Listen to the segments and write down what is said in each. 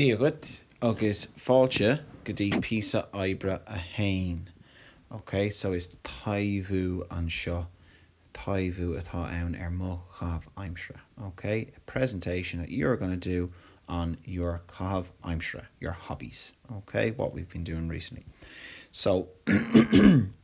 Dia dhuit agus fáilte go dtí píosa oibre 1. Ok, so is taibhiú é seo, taibhiú atá ann ar mo chaitheamh aimsire. Ok, a presentation that you're going to do on your caitheamh aimsire, your hobbies. Ok, what we've been doing recently. So.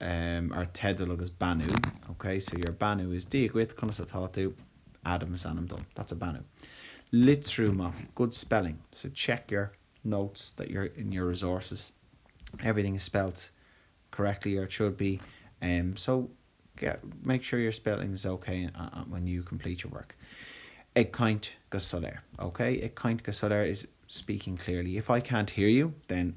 em ar teideal agus beannú ok so your beannú is Dia dhuit, conas atá tú? Adam is ainm dom, that's a beannú. Litriú maith, good spelling, so check your notes that you're in your resources everything is spelt correctly or it should be em so get make sure your spelling is ok when you complete your work. Ag caint go soiléir, ok? Ag caint go soiléir is speaking clearly. If I can't hear you then.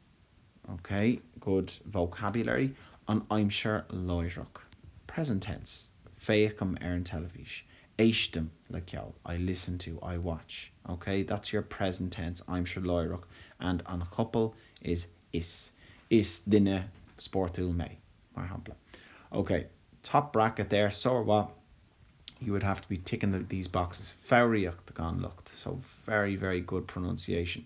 ok good vocabulary an aimsir láithreach present tense féachaim ar an teilifís, éistim le ceol I listen to, I watch ok that's your present tense aimsir láithreach and an chopail is is is duine spórtúil mé, mar shampla ok top bracket there sármhaith you would have to be ticking these boxes foghraíocht gan locht so very, very good pronunciation.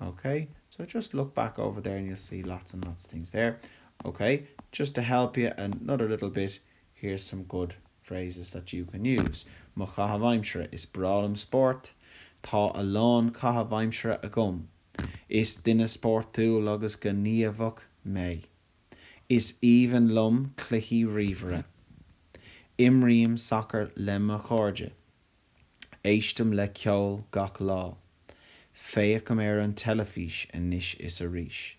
OK, so just look back over there and you'll see lots and lots of things there. OK, just to help you another little bit, here's some good phrases that you can use. Mo chaitheamh aimsire, is breá liom spórt. Tá a lán caitheamh aimsire agam. Is duine spórtúil agus gníomhach mé. Is aoibhinn liom cluichí ríomhaire. Imrím sacar le mo chairde. Éistim le ceol gach lá. Féachaim ar an teilifís anois is arís.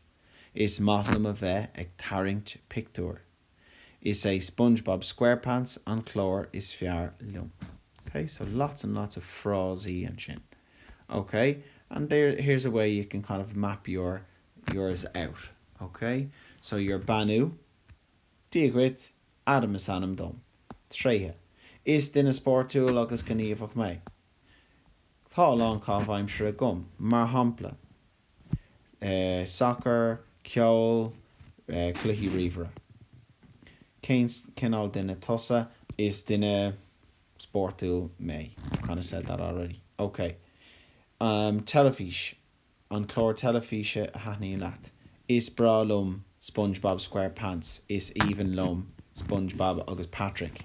Is maith liom a bheith ag tarraingt pictiúir. Is é Spongebob Squarepants an chlár is fearr liom. Ok, so lots and lots of frásaí ansin. Ok, and there, here's a way you can kind of map your, yours out. Ok, so your beannú. Dia dhuit, Adam is ainm dom. Tréithe, Is duine spórtúil agus gníomhach mé. Tá a lán caitheamh aimsire agam, mar shampla, sacar, ceol, cluichí ríomhaire. Cén cineál duine tusa? Is duine spórtúil mé. I kinda said that already. Okay. Teilifís. An chlár teilifíse a thaitníonn leat? Is breá liom Spongebob Squarepants Is aoibhinn liom Spongebob agus Patrick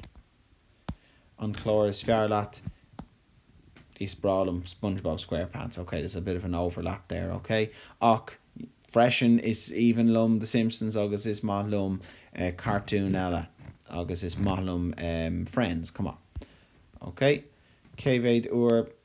An chlár is fearr leat? Is breá liom Spongebob Squarepants Ok, there's a bit of an overlap there, ok? Ach freisin, is aoibhinn liom The Simpsons agus is maith liom cartúin eile agus is maith liom Friends, come on, ok? Cé mhéad uair a.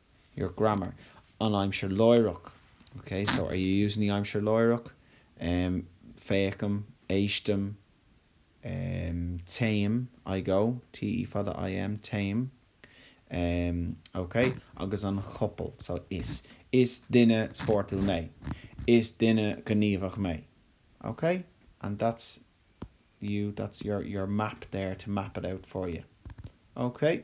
your grammar, an aimsir láithreach, ok, so are you using the aimsir láithreach? em, féachaim, éistim, em, téim, I go, T E fada I M, téim, em, ok, agus an chopail, so is, is duine spórtúil mé, is duine gníomhach mé, ok, and that's you, that's your map there to map it out for you, ok.